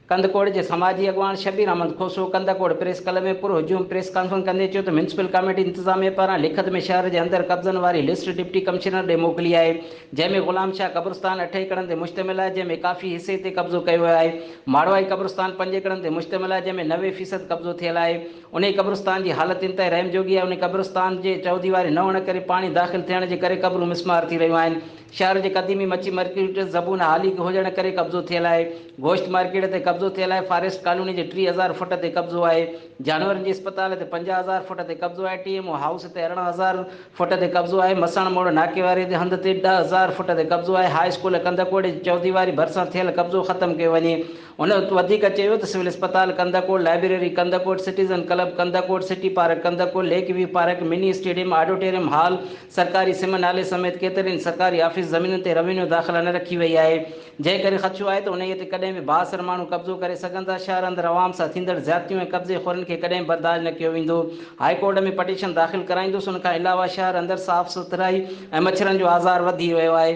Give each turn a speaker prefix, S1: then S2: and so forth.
S1: ڪنڌڪوٽ جي سماجي اڳواڻ شبير احمد کوسو ڪنڌڪوٽ پريس ڪلب ۾ پر هجوم پريس ڪانفرنس ڪندي چيو ته ميونسپل ڪاميٽي انتظاميه پاران لکت ۾ شهر جي اندر قبضن واري لسٽ ڊپٽي ڪمشنر ڏي موڪلي آهي جنهن ۾ غلام شاهه قبرستان اٺ ايڪڙن تي مشتمل آهي جنهن ۾ ڪافي حصي تي قبضو ڪيو ويو آهي ماڙوائي قبرستان پنج ايڪڙن تي مشتمل آهي جنهن ۾ نوي فيصد قبضو ٿيل آهي انهيء قبرستان جي حالت انتهائي رحم جوڳي آهي. انهيء قبرستان جي چئوديواري نه هئڻ ڪري پاڻي داخل ٿيڻ جي ڪري قبرون مسمار ٿي رهيون آهن. شهر جي قديمي مڇي مرڪيٽ زبون هالي هجڻ ڪري قبضو ٿيل آهي. گوشت مارڪيٽ تي قبضو ٿيل آهي. فاريسٽ ڪالوني جي ٽيهه هزار فوٽ تي قبضو آهي. جانورن جي اسپتال تي پنجاهه هزار فوٽ تي قبضو آهي. ٽي ايم او هائوس تي ارڙهن هزار فوٽ تي قبضو آهي. مسڻ موڙ ناڪي واري تي هنڌ تي ڏهه هزار فوٽ تي قبضو آهي. هاء اسڪول ڪنڌڪوٽ جي چئوديواري ڀرسان ٿيل قبضو ختم ڪيو وڃي. هن وڌيڪ چيو ته سول اسپتال Kandhkot, library Kandhkot, citizen club Kandhkot, city park Kandhkot, lake view park, mini stadium, auditorium hall, سرڪاري سم نالي سميت ڪيترين سرڪاري آفيس زمينن تي روينيو داخلا نه رکي وئي آهي، جنهن ڪري خدشو آهي ته انهيء تي ڪڏهن به بااثر ماڻهو قبضو ڪري سگهن ٿا، شهر اندر عوام سان ٿيندڙ زيادتيون ۽ قبضي خورن کي ڪڏهن به برداشت نه ڪيو ويندو، هائي ڪورٽ ۾ پٽيشن داخل ڪرائيندس، ان کان علاوه شهر اندر صاف سٿرائي ۽ مڇرن جو آزار وڌي ويو آهي.